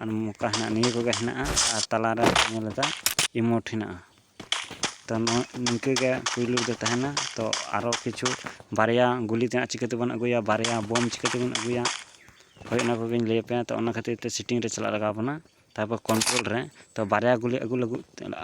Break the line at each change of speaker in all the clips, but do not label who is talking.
ᱟᱨ ᱢᱚᱠᱟ ᱦᱮᱱᱟᱜᱼᱟ ᱱᱤᱭᱟᱹ ᱠᱚᱜᱮ ᱦᱮᱱᱟᱜᱼᱟ ᱟᱨ ᱛᱟᱞᱟᱨᱮ ᱧᱮᱞ ᱮᱫᱟ ᱤᱢᱳᱴ ᱦᱮᱱᱟᱜᱼᱟ ᱛᱚ ᱱᱚᱣᱟ ᱱᱤᱝᱠᱟᱹ ᱜᱮ ᱯᱩᱭᱞᱩ ᱨᱮᱫᱚ ᱛᱟᱦᱮᱱᱟ ᱛᱚ ᱟᱨᱚ ᱠᱤᱪᱷᱩ ᱵᱟᱨᱭᱟ ᱜᱩᱞᱤ ᱛᱮᱱᱟᱜ ᱪᱤᱠᱟᱹ ᱛᱮᱵᱚᱱ ᱟᱹᱜᱩᱭᱟ ᱵᱟᱨᱭᱟ ᱵᱳᱢ ᱪᱤᱠᱟᱹ ᱛᱮᱵᱚᱱ ᱟᱹᱜᱩᱭᱟ ᱦᱳᱭ ᱚᱱᱟ ᱠᱚᱜᱮᱧ ᱞᱟᱹᱭ ᱟᱯᱮᱭᱟ ᱛᱚ ᱚᱱᱟ ᱠᱷᱟᱹᱛᱤᱨ ᱛᱮ ᱥᱮᱴᱤᱝ ᱨᱮ ᱪᱟᱞᱟᱜ ᱞᱟᱜᱟᱣ ᱵᱚᱱᱟ ᱛᱟᱨᱯᱚᱨ ᱠᱚᱱᱴᱨᱳᱞ ᱨᱮ ᱛᱚ ᱵᱟᱨᱭᱟ ᱜᱩᱞᱤ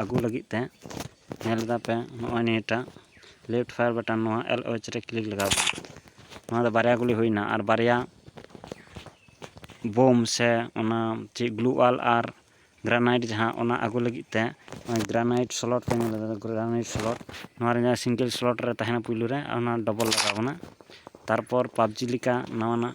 ᱟᱹᱜᱩ ᱞᱟᱹᱜᱤᱫ ᱛᱮ ᱧᱮᱞ ᱫᱟᱯᱮ ᱱᱚᱜᱼᱚᱭ ᱱᱤᱭᱟᱹᱴᱟᱜ ᱞᱮᱯᱷᱴ ᱯᱷᱟᱭᱟᱨ ᱵᱟᱴᱟᱱ ᱱᱚᱣᱟ ᱮᱞ ᱳᱭᱤᱪ ᱨᱮ ᱠᱞᱤᱠ ᱞᱟᱜᱟᱣ ᱯᱮ ᱱᱚᱣᱟ ᱫᱚ ᱵᱟᱨᱭᱟ ᱜᱩᱞᱤ ᱦᱩᱭᱱᱟ ᱟᱨ ᱵᱟᱨᱭᱟ ᱵᱳᱢ ᱥᱮ ᱚᱱᱟ ᱪᱮᱫ ᱜᱞᱩ ᱚᱣᱟᱞ ᱟᱨ ᱜᱨᱟᱱᱟᱭᱤᱴ ᱡᱟᱦᱟᱸ ᱚᱱᱟ ᱟᱹᱜᱩ ᱞᱟᱹᱜᱤᱫ ᱛᱮ ᱱᱚᱜᱼᱚᱭ ᱜᱨᱟᱱᱟᱭᱤᱴ ᱥᱞᱚᱴ ᱯᱮ ᱧᱮᱞ ᱮᱫᱟ ᱜᱨᱟᱱᱟᱭᱤᱴ ᱥᱞᱚᱴ ᱱᱚᱣᱟ ᱨᱮ ᱡᱟᱦᱟᱸ ᱥᱤᱝᱜᱮᱞ ᱥᱞᱚᱴ ᱨᱮ ᱛᱟᱦᱮᱱᱟ ᱯᱩᱭᱞᱩ ᱨᱮ ᱚᱱᱟ ᱰᱚᱵᱚᱞ ᱞᱟᱜᱟᱣ ᱵᱚᱱᱟ ᱛᱟᱨᱯᱚᱨ ᱯᱟᱵᱽᱡᱤ ᱞᱮᱠᱟ ᱱᱟᱣᱟᱱᱟᱜ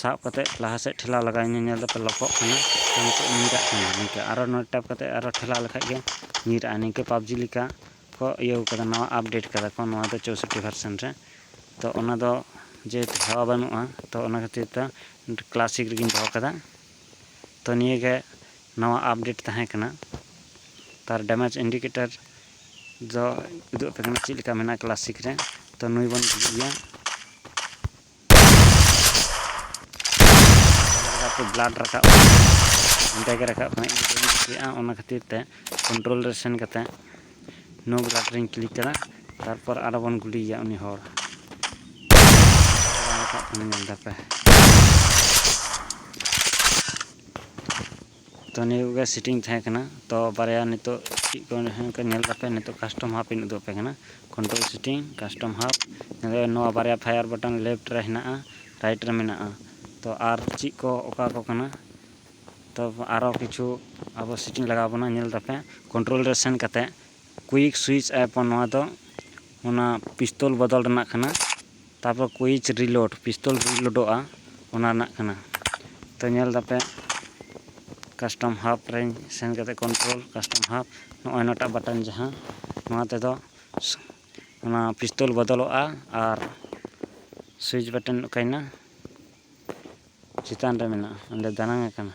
ᱥᱟᱵ ᱠᱟᱛᱮ ᱞᱟᱦᱟ ᱥᱮᱫ ᱴᱷᱮᱞᱟᱣ ᱞᱟᱜᱟᱣ ᱤᱧ ᱧᱮᱞ ᱫᱟᱯᱮ ᱞᱚᱠᱚᱜ ᱠᱟᱱᱟ ᱱᱤᱛᱚᱜ ᱧᱤᱨᱟᱜ ᱠᱟᱱᱟ ᱱᱤᱝᱠᱟᱹ ᱟᱨᱚ ᱱᱚᱰᱮ ᱴᱮᱯ ᱠᱟᱛᱮ ᱟᱨᱚ ᱴᱷᱮᱞᱟᱣ ᱞᱮᱠᱷᱟᱡ ᱜᱮ ᱧᱤᱨᱟᱜᱼᱟ ᱱᱤᱝᱠᱟᱹ ᱯᱟᱵᱡᱤ ᱞᱮᱠᱟ ᱠᱚ ᱤᱭᱟᱹ ᱠᱟᱫᱟ ᱱᱟᱣᱟ ᱟᱯᱰᱮᱴ ᱠᱟᱫᱟ ᱠᱚ ᱱᱚᱣᱟ ᱫᱚ ᱪᱳᱥᱚᱴᱴᱤ ᱵᱷᱟᱨᱥᱮᱱ ᱨᱮ ᱛᱚ ᱚᱱᱟ ᱫᱚ ᱡᱮᱦᱮᱛᱩ ᱦᱟᱣᱟ ᱵᱟᱹᱱᱩᱜᱼᱟ ᱛᱚ ᱚᱱᱟ ᱠᱷᱟᱹᱛᱤᱨ ᱛᱮ ᱠᱞᱟᱥᱤᱠ ᱨᱮᱜᱮᱧ ᱫᱚᱦᱚ ᱠᱟᱫᱟ ᱛᱚ ᱱᱤᱭᱟᱹ ᱜᱮ ᱱᱟᱣᱟ ᱟᱯᱰᱮᱴ ᱛᱟᱦᱮᱸ ᱠᱟᱱᱟ ᱛᱟᱨ ᱰᱮᱢᱮᱡᱽ ᱤᱱᱰᱤᱠᱮᱴᱟᱨ ᱫᱚ ᱩᱫᱩᱜ ᱟᱯᱮ ᱠᱟᱱᱟ ᱪᱮᱫ ᱞᱮᱠᱟ ᱢᱮᱱᱟᱜᱼᱟ ᱠᱞᱟᱥᱤᱠ ᱨᱮ ᱛᱚ ᱱᱩᱭ ᱵᱚᱱ ᱜᱩᱡᱩᱜ ᱜᱮᱭᱟ ᱵᱞᱟᱰ ᱨᱟᱠᱟᱵ ᱚᱸᱰᱮ ᱜᱮ ᱨᱟᱠᱟᱵ ᱠᱟᱱᱟ ᱤᱧ ᱵᱟᱹᱧ ᱠᱩᱥᱤᱭᱟᱜᱼᱟ ᱚᱱᱟ ᱠᱷᱟᱹᱛᱤᱨ ᱛᱮ ᱠᱚᱱᱴᱨᱳᱞ ᱨᱮ ᱥᱮᱱ ᱠᱟᱛᱮ ᱱᱳ ᱵᱞᱟᱰ ᱨᱮᱧ ᱠᱞᱤᱠ ᱠᱮᱫᱟ ᱛᱟᱨᱯᱚᱨ ᱟᱨᱚ ᱵᱚᱱ ᱜᱩᱞᱤᱭᱮᱭᱟ ᱩᱱᱤ ᱦᱚᱲ ᱨᱟᱠᱟᱵ ᱠᱟᱱᱟ ᱧᱮᱞ ᱫᱟᱯᱮ ᱛᱚ ᱱᱤᱭᱟᱹ ᱠᱚᱜᱮ ᱥᱮᱴᱤᱝ ᱛᱟᱦᱮᱸ ᱠᱟᱱᱟ ᱛᱚ ᱵᱟᱨᱭᱟ ᱱᱤᱛᱚᱜ ᱪᱮᱫ ᱠᱚ ᱦᱮᱸ ᱠᱚ ᱧᱮᱞ ᱠᱟᱛᱮ ᱱᱤᱛᱚᱜ ᱠᱟᱥᱴᱚᱢ ᱦᱟᱯ ᱤᱧ ᱩᱫᱩᱜ ᱟᱯᱮ ᱠᱟᱱᱟ ᱠᱚᱱᱴᱨᱳᱞ ᱥᱮᱴᱤᱝ ᱠᱟᱥᱴᱚᱢ ᱦᱟᱯ ᱱᱚᱣᱟ ᱵᱟᱨᱭᱟ ᱯᱷᱟᱭᱟᱨ ᱵᱟᱴᱚᱱ ᱞᱮᱯᱷᱴ ᱨᱮ ᱦᱮᱱᱟᱜᱼᱟ ᱨᱟᱭᱤᱴ ᱨᱮ ᱢᱮᱱᱟᱜᱼᱟ ᱛᱚ ᱟᱨ ᱪᱮᱫ ᱠᱚ ᱚᱠᱟ ᱠᱚ ᱠᱟᱱᱟ ᱛᱚ ᱟᱨᱚ ᱠᱤᱪᱷᱩ ᱟᱵᱚ ᱥᱮᱴᱤᱝ ᱞᱟᱜᱟᱣ ᱵᱚᱱᱟ ᱧᱮᱞ ᱛᱟᱯᱮ ᱠᱚᱱᱴᱨᱳᱞ ᱨᱮ ᱥᱮᱱ ᱠᱟᱛᱮ ᱠᱩᱭᱤᱠ ᱥᱩᱭᱤᱪ ᱟᱭᱯᱚᱱ ᱱᱚᱣᱟ ᱫᱚ ᱚᱱᱟ ᱯᱤᱥᱛᱚᱞ ᱵᱚᱫᱚᱞ ᱨᱮᱱᱟᱜ ᱠᱟᱱᱟ ᱛᱟᱯᱚᱨ ᱠᱩᱭᱤᱪ ᱨᱤᱞᱳᱰ ᱯᱤᱥᱛᱚᱞ ᱨᱤᱞᱳᱰᱚᱜᱼᱟ ᱚᱱᱟ ᱨᱮᱱᱟᱜ ᱠᱟᱱᱟ ᱛᱚ ᱧᱮᱞ ᱫᱟᱯᱮ ᱠᱟᱥᱴᱚᱢ ᱦᱟᱵ ᱨᱮᱧ ᱥᱮᱱ ᱠᱟᱛᱮ ᱠᱚᱱᱴᱨᱳᱞ ᱠᱟᱥᱴᱚᱢ ᱦᱟᱵ ᱱᱚᱜᱼᱚᱭ ᱱᱚᱣᱟᱴᱟᱜ ᱵᱟᱴᱚᱱ ᱡᱟᱦᱟᱸ ᱱᱚᱣᱟ ᱛᱮᱫᱚ ᱚᱱᱟ ᱯᱤᱥᱛᱚᱞ ᱵᱚᱫᱚᱞᱚᱜᱼᱟ ᱟᱨ ᱥᱩᱭᱤᱪ ᱵᱟᱴᱚᱱ ᱚᱠᱟᱭᱮᱱᱟ ᱪᱮᱛᱟᱱ ᱨᱮ ᱢᱮᱱᱟᱜᱼᱟ ᱚᱸᱰᱮ ᱫᱟᱱᱟᱝ ᱟᱠᱟᱱᱟ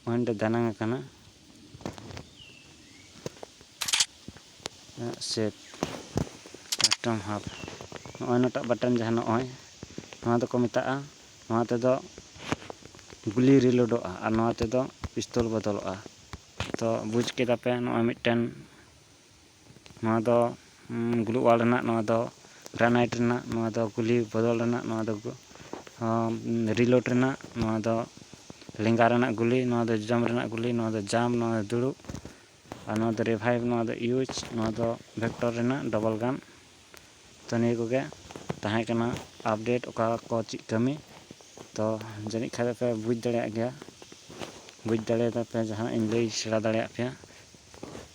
ᱯᱚᱭᱮᱱᱴ ᱨᱮ ᱫᱟᱱᱟᱝ ᱟᱠᱟᱱᱟ ᱥᱮᱯ ᱵᱟᱴᱚᱢ ᱦᱟᱯ ᱱᱚᱜᱼᱚᱭ ᱱᱚᱴᱟᱜ ᱵᱟᱴᱚᱱ ᱡᱟᱦᱟᱸ ᱱᱚᱜᱼᱚᱭ ᱱᱚᱣᱟ ᱫᱚᱠᱚ ᱢᱮᱛᱟᱜᱼᱟ ᱱᱚᱣᱟ ᱛᱮᱫᱚ ᱜᱩᱞᱤ ᱨᱤᱞᱳᱰᱚᱜᱼᱟ ᱟᱨ ᱱᱚᱣᱟ ᱛᱮᱫᱚ ᱯᱤᱥᱛᱚᱞ ᱵᱚᱫᱚᱞᱚᱜᱼᱟ ᱛᱚ ᱵᱩᱡᱽ ᱠᱮᱫᱟ ᱯᱮ ᱱᱚᱜᱼᱚᱭ ᱢᱤᱫᱴᱮᱱ ᱱᱚᱣᱟ ᱫᱚ ᱜᱩᱞᱩᱜᱣᱟᱞ ᱨᱮᱱᱟᱜ ᱱᱚᱣᱟ ᱫᱚ ᱜᱨᱟᱱᱟᱭᱤᱴ ᱨᱮᱱᱟᱜ ᱱᱚᱣᱟ ᱫᱚ ᱜᱩᱞᱤ ᱵᱚᱫᱚᱞ ᱨᱮᱱᱟᱜ ᱱᱚᱣᱟ ᱫᱚ ᱨᱤᱞᱳᱰ ᱨᱮᱱᱟᱜ ᱱᱚᱣᱟ ᱫᱚ ᱞᱮᱸᱜᱟ ᱨᱮᱱᱟᱜ ᱜᱩᱞᱤ ᱱᱚᱣᱟ ᱫᱚ ᱡᱚᱡᱚᱢ ᱨᱮᱱᱟᱜ ᱜᱩᱞᱤ ᱱᱚᱣᱟ ᱫᱚ ᱡᱟᱢ ᱱᱚᱣᱟ ᱫᱚ ᱫᱩᱲᱩᱵ ᱟᱨ ᱱᱚᱣᱟ ᱫᱚ ᱨᱤᱵᱷᱟᱭᱤᱵᱷ ᱱᱚᱣᱟ ᱫᱚ ᱤᱭᱩᱡᱽ ᱱᱚᱣᱟ ᱫᱚ ᱵᱷᱮᱠᱴᱚᱨ ᱨᱮᱱᱟᱜ ᱰᱚᱵᱚᱞ ᱜᱟᱱ ᱛᱚ ᱱᱤᱭᱟᱹ ᱠᱚᱜᱮ ᱛᱟᱦᱮᱸ ᱠᱟᱱᱟ ᱟᱯᱰᱮᱴ ᱚᱠᱟ ᱠᱚ ᱪᱮᱫ ᱠᱟᱹᱢᱤ ᱛᱚ ᱡᱟᱹᱱᱤᱡ ᱠᱷᱟᱱ ᱫᱚᱯᱮ ᱵᱩᱡᱽ ᱫᱟᱲᱮᱭᱟᱜ ᱜᱮᱭᱟ ᱵᱩᱡᱽ ᱫᱟᱲᱮᱭᱟᱫᱟᱯᱮ ᱡᱟᱦᱟᱱᱟᱜ ᱤᱧ ᱞᱟᱹᱭ ᱥᱮᱬᱟ ᱫᱟᱲᱮᱭᱟᱜ ᱯᱮᱭᱟ